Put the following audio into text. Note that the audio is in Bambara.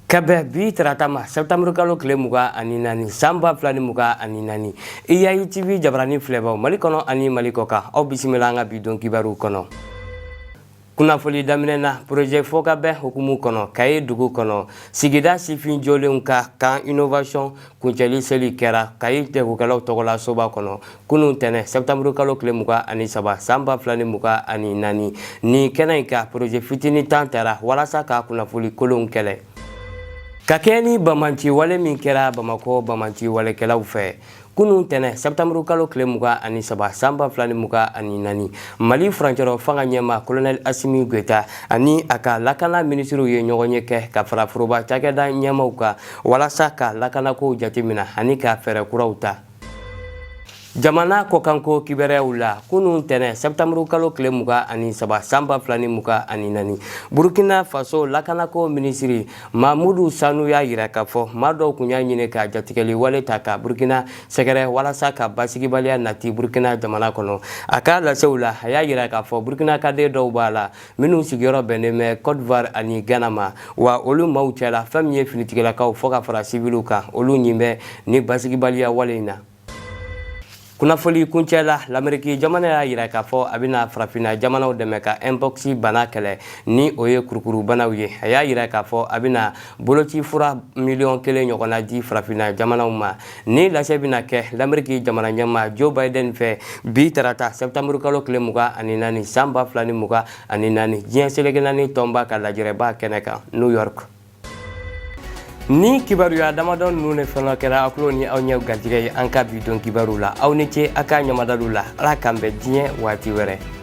Ka bɛn bi tarata ma sɛptanburukalo tile mugan ani naani san ba fila ni mugan ani naani i yayi tibi jabarani filɛbaw mali kɔnɔ ani mali kɔ kan aw bisimila an ka bi don kibaru kɔnɔ kunnafoni daminɛ na porozɛ fɔ ka bɛn hukumu kɔnɔ kayi dugu kɔnɔ sigida sifin jɔlenw ka camp innovation kuncɛli seli kɛra kayi jagokɛlaw tɔgɔla soba kɔnɔ kunun tɛnɛ sɛptanburu kalo tile mugan ani saba san ba fila ni mugan ani naani nin kɛnɛ in kan porozɛ fitini tan tara walasa ka kunnafoli kolonw kɛlɛ ka kɛɲɛ ni banbaganciwale min kɛra bamakɔ banbaganciwalekɛlaw fɛ kunun tɛnɛ sɛptanburu kalo tile mugan ani saba san ba fila ni mugan ani naani mali furancɛrɔ fanga ɲɛmaa kolonɛli asimi goyita ani a ka lakana minisiriw ye ɲɔgɔnye kɛ ka fara foroba cakɛda ɲɛmaaw kan walasa ka lakanakow jateminɛ ani ka fɛɛrɛ kuraw ta jamana kɔkanko kibaruyaw la kunun tɛnɛ sɛptanburu kalo tile muga ani saba san ba fila ni muga ani naani burukina faso lakanako minisiri mamudu sanu y'a yira k'a fɔ maa dɔw kun y'a ɲini ka jatigɛli wale ta ka burukina sɛgɛrɛ walasa ka basigibaliya nati burukina jamana kɔnɔ a ka lasew la a y'a yira k'a fɔ burukinaka den dɔw b'a la minnu sigiyɔrɔ bɛnnen bɛ cote d'ivoire ani ghana ma wa olu maaw cɛla fɛn min ye finitigilakaw fo ka fara siviliw kan olu ɲin bɛ ni basigibaliya wale in na kunnafoli kuncɛ la lameriki jamana y'a yira k'a fɔ a bɛna farafinna jamanaw dɛmɛ ka mpox bana kɛlɛ ni o ye kurukurubanaw ye a y'a yira k'a fɔ a bɛna boloci fura miliyɔn kelen ɲɔgɔnna di farafinna jamanaw ma ni lase bɛna kɛ lamɛriki jamana ɲɛmaa joe biden fɛ bi tarata sɛptanburu kalo tile mugan ani naani san ba fila ni mugan ani naani diɲɛ seleke naani tɔnba ka lajɛrɛba kɛnɛ kan new york ni kibaruya damadɔ ninnu de fana kɛra aw tulo ni aw ɲɛ garijɛgɛ ye an ka bi don kibaru la aw ni ce a ka ɲamadalu la ala k'an bɛn diɲɛ waati wɛrɛ